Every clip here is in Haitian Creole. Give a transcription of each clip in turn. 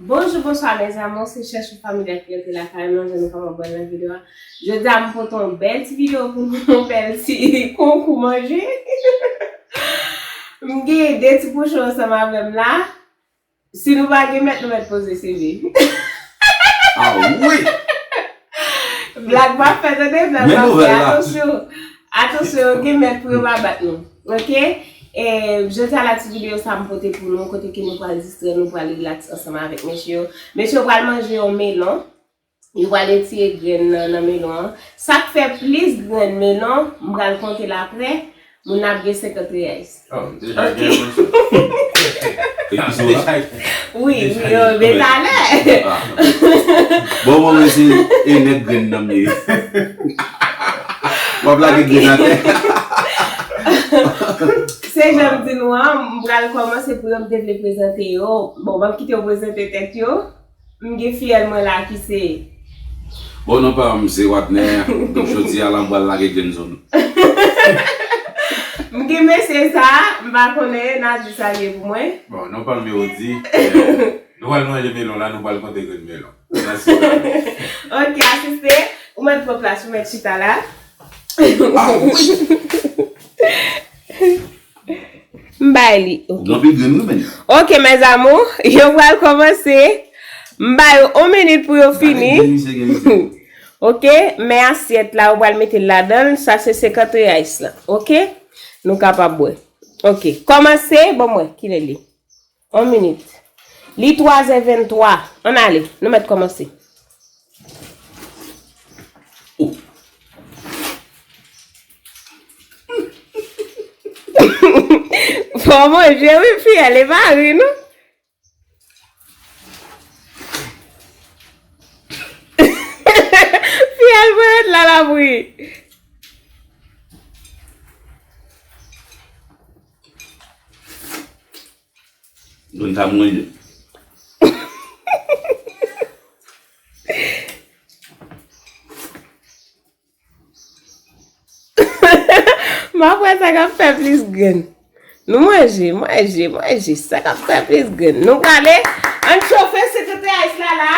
Bonjou bonswa mes amours se chèch ou fanmi dèt rete lakay mwen jan nou kòman bwè nan video a jodi a m pote yon bèl ti video pou nou yon bèl ti konkou manje m gen 2 ti pouchon ansanm avèm la. Si nou pa gen mèt nou mèt poze CV. Ah oui! Blag map fè tande, blag map fè atansyon. Atansyon yo gen mèt pou yo pa bat nou. Ok? E jodi a la ti video sa m pote pou nou kote ke nou pral distrè nou pral relax ansanm avèk mesye yo. Mesye yo pral manje yon melon. Yo pral etire grenn nan nan melon an. Sak fè plis grenn melon, m pral konte l apre, moun nan ap gen 50 riyais. Oh m deja gen yon chou. Wi wi oh men talè. Bon mwen wè se e nèt grenn nan m ye. Wap lage grenn atè. Se jan m di nou an, m pral kòmanse pou yo m te vle prezante yo. Bon m ap kite yo prezante tèt yo. M gen fiyèl mwen la ki se. Bon non pa m se Wadner donk jodi a la m pral lage grenn zòn. M gen mesye sa a, m pa konnen e Nady salye pou mwen. Bon non pa m Mérody. Nou pral manje melon la nou pral konte grenn melon. Nasi salye. Ok asiste, ou mèt pran plas ou mèt chita la. Ah oui! M bay li ok. Ok mes amours yo pral komanse m bay yo on minit pou yo fini ok men asyèt la ou pral mete l ladanl sa se 50 reais lan ok nou kapab wè ok komanse bon mwen kilè l ye. On minit. Li twazè venntwa. Ann ale. Nou mèt kòmanse. Fò manje wi fiyèl e pa ri non. Fiyèl mwen ret la l ap ri. Don ta mwen yo. Map wè sa kap fè plis grenn. Nou manje, manje, manje. Sa kap fè plis grenn. Nou prale. An chofe sekretè Ice la la.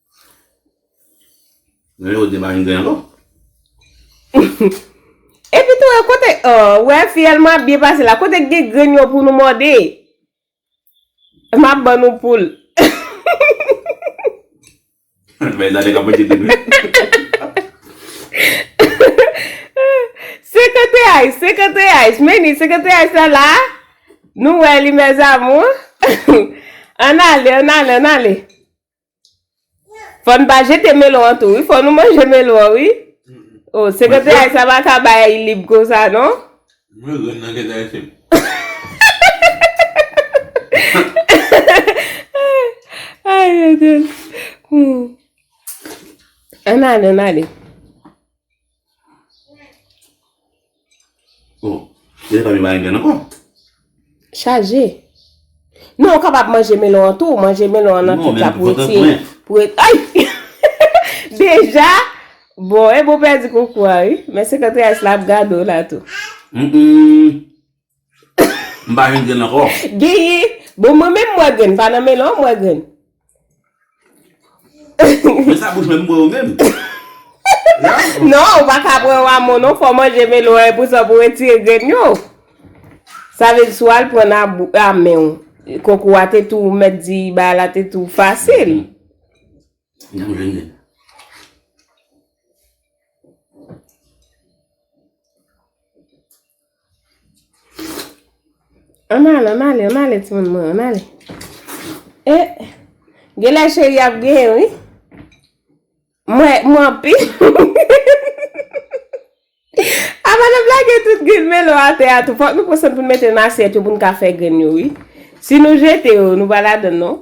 Mwen yo deba yon grenn ankò. Epi tou e kote oh wè fiyèl mwen ap byen pase la kote gen grenn yo pou nou mòde map ban nou poul. Mwen zade kap manje tout wi. Senkante ice senkante ice meni senkante ice la la nou wè li mes amours ann ale ann ale ann ale. Fò n pa jete melon an tou wi, fò nou manje melon an wi. O, sekretè Aysa pa ka bay lib konsa non. Mwen ren nan kèt Ayisyen. Ann ale, ann ale. Oh, se pa gen marengen ankò? Chaje. Non, ou kapab manje melon an tou, manje melon an nan pita pou ete. Non, men, mwen pa pran pwen. Ayy! Deja? Bon, e bon pèdi konkou a, wi. Men 50 reais la ap gade w la tou. Mmmh. M pa jwenn grenn ankò. Genyen. Bon mwen menm m wè grenn. Pa nan melon an m wè grenn. Men sa bouch mwen m bwè yo menm. Non ou pa ka pran wamo non fò w manje melon an epousa pou w retire grenn yo. Sa vle di si w al pran nan a men w. Konkou a te tou mèt di bagay la te tou fasil. M janm jwenn grenn. Ann ale, ann ale, ann ale timoun mwen, ann ale. E, genlè cheri ap genyen wi. Mwen, mwen anpi. A madanm la gen tout grenn melon atè a tou. Fòk nou pran sòn pou nou mete nan asyèt yo pou nou ka fè grenn yo wi. Si nou jete yo, nou pa ladann non.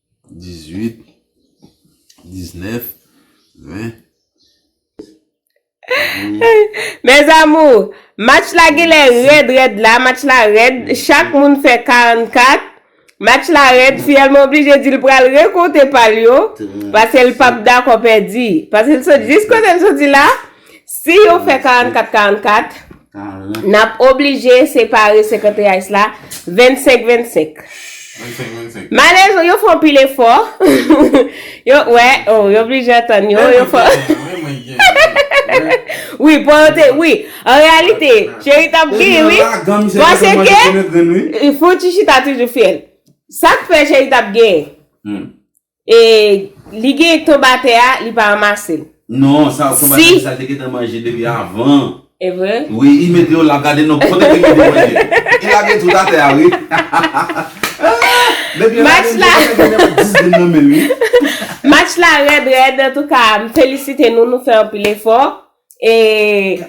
18 19 20 Mes amours Match la genlè rèd rèd la Match la rèd Chak moun fè 44 Match la rèd Fiyèl mwen oblije di l pral rekonte pa l yo Pase l pap dakò pèdi Pase l sot jis kote l soti la Si yo fè 44 44, n ap oblije separe 51 ice la 25 25. Malezon yo fè yon pil efò. Yo wè, oh, yo oblije antann yo. Yo fè. Wi, pò yo te, wi. An reyalite, cheri t ap gri, wi. Pase ke, Fouti chita toujou fyèl. Sa k fè cheri t ap gen? E li gen ektobatè a li pa ramasel. Non sa ektobatè sa te gentan manje depi avan. Evre? Wi i mete yo la gade non kote ke li te manje. Li lage tout atè a wi. Depi yo lage li gentan gen yon 10 grenn nan menl wi. Match la rèd rèd antouka m felisite nou nou fè anpil efò E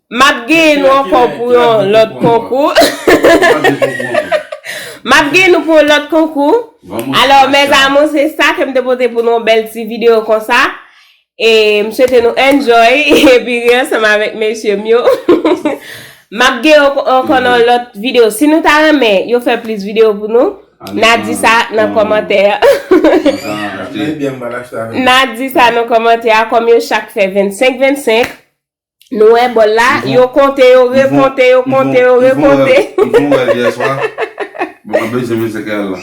map genyen nou ankò pou yon lòt konkou. Map genyen nou pou yon lòt konkou. Alò mes amour se sa kem te pote pou nou yon bèl ti video konsa. E m swete nou enjoy epi ri ansanm avèk mesye m yo. Map genyen ankò nan yon lòt video. Si nou ta renmen yo fè plis video pou nou. Na di sa nan kòmantè a. Na di sa nan kòmantè a kòm yo chak fè 25 25. Nou wè bòl la, yo konte, yo rekonte, yo konte, yo rekonte. M fon rèv yè swa, m ap bezwen 25 real la.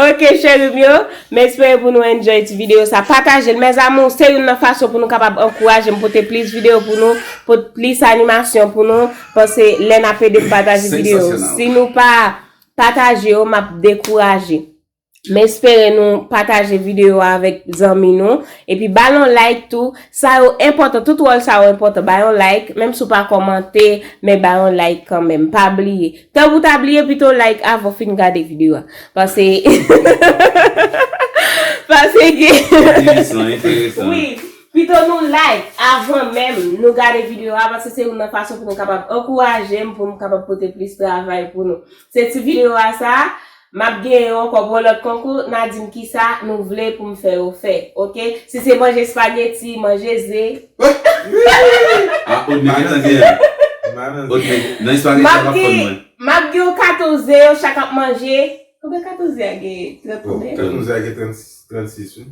Ok cheri m yo, m espere pou nou enjoy ti video sa. Pataje l mes amours, se youn nan fason pou nou kapab ankouraje m pote plis video pou nou, pote plis animasyon pou nou. Pase lè nap edem pataje video yo si nou pa pataje yo map dekouraje m espere nou pataje video yo avèk zanmi nou epi bal yon like tou sa yo enpòtan tout wòl sa yo enpòtan bay yon like menm si w pa kòmante men bay yon like kanmenm pa bliye tank ou ta bliye pito like avan w fin gade video a pase pase gen. Enteresan enteresan wi. Pito nou like avan menm nou gade video a paske se youn nan fason pou nou kapab ankourajem pou m kapab pote plis travay pou nou. Se ti video a sa a, map gen yo ankò pou yon lòt konkou, na dim kisa nou vle pou m fè yo fè ok. Si se manje spaghetti, manje ze. A old me gentan gen an. Old me nan espagheti a pap konn mwen. Map gen yon katon ze yo chak ap manje. Konbyen katon ze a gen? 30 konbyen? Katon ze a gen 36 wi.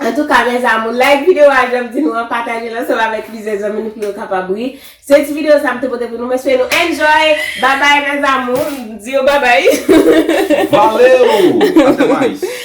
Antouka mes amour like video a janm di nou an patajel ansanm avèk plizyè zanmi nou pou yo kapab ri se ti video sa m te pote pou nou m espere nou enjoy babay mes amour m di yo babay Valeu! Até mais!